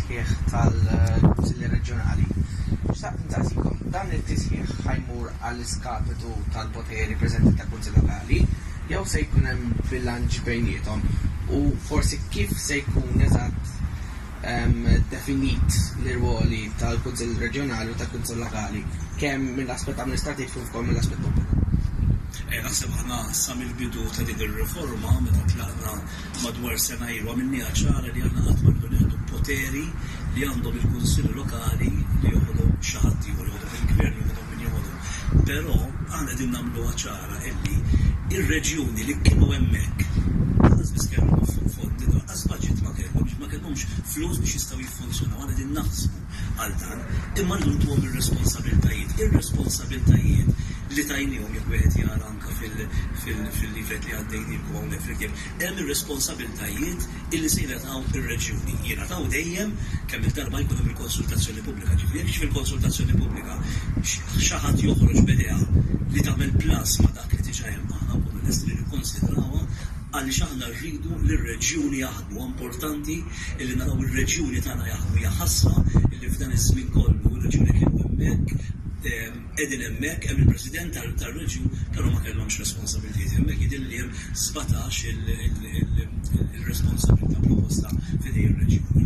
It-tisħiħ tal-Kunsilli Reġjonali. Xtaqt insaqsikom, dan it-tisħiħ ħa jmur għall-iskapitu tal-poteri preżenti tal-Kunsill Lokali jew se jkun hemm bilanċ bejniethom? U forsi kif se jkun eżatt definit l-irwoli tal-Kunsill Reġjonali u tal-Kunsill Lokali, kemm mill-aspett amministrattiv kif ukoll mill-aspett politiku? Naħseb aħna sa mill-bidu ta' din ir-riforma meta tlaqna Madwar sena ilu għamilniha ċara li aħna qatt ma rridu nieħdu poteri li għandhom il-kunsilli lokali li joħodhom xi ħadd ieħor, joħodhom il-gvern, joħodhom min joħodhom. Però aħna qegħdin nagħmluha ċara illi r-reġjuni li kienu hemmhekk lanqas biss kellhom fondi, lanqas budget ma kellhom, jiġifieri ma kellhomx flus biex jistgħu jiffunzjonaw. Aħna qegħdin naħsbu għal dan, imma rridu ntuhom ir-responsabiltajiet. Ir-responsabiltajiet li tajniehom jekk wieħed jara fil-livell li għaddej nieħdu hawnhekk flimkien, hemm ir-responsabbiltajiet illi se jingħataw ir-reġjuni. Jingħataw dejjem kemm-il darba jkun hemm il-konsultazzjoni pubblika. Ġifieri jekk fil-konsultazzjoni pubblika xi ħadd joħroġ b'idea li tagħmel plus ma' dak li diġà hemm, aħna nkunu lesti li nikkonsidrawha għaliex aħna rridu li r-reġjuni jaħdmu. Huwa importanti illi naraw ir-reġjuni tagħna jaħdmu. Hija ħasra illi f'dan iż-żmien kollu r-reġjuni kienu hemmhekk, qegħdin hemmhekk hemm il-President tar-Reġjun però ma kellhomx responsabbiltajiet hemmhekk jidhirli li hemm sbatax il-responsabbiltà proposta f'idejn ir-Reġjuni.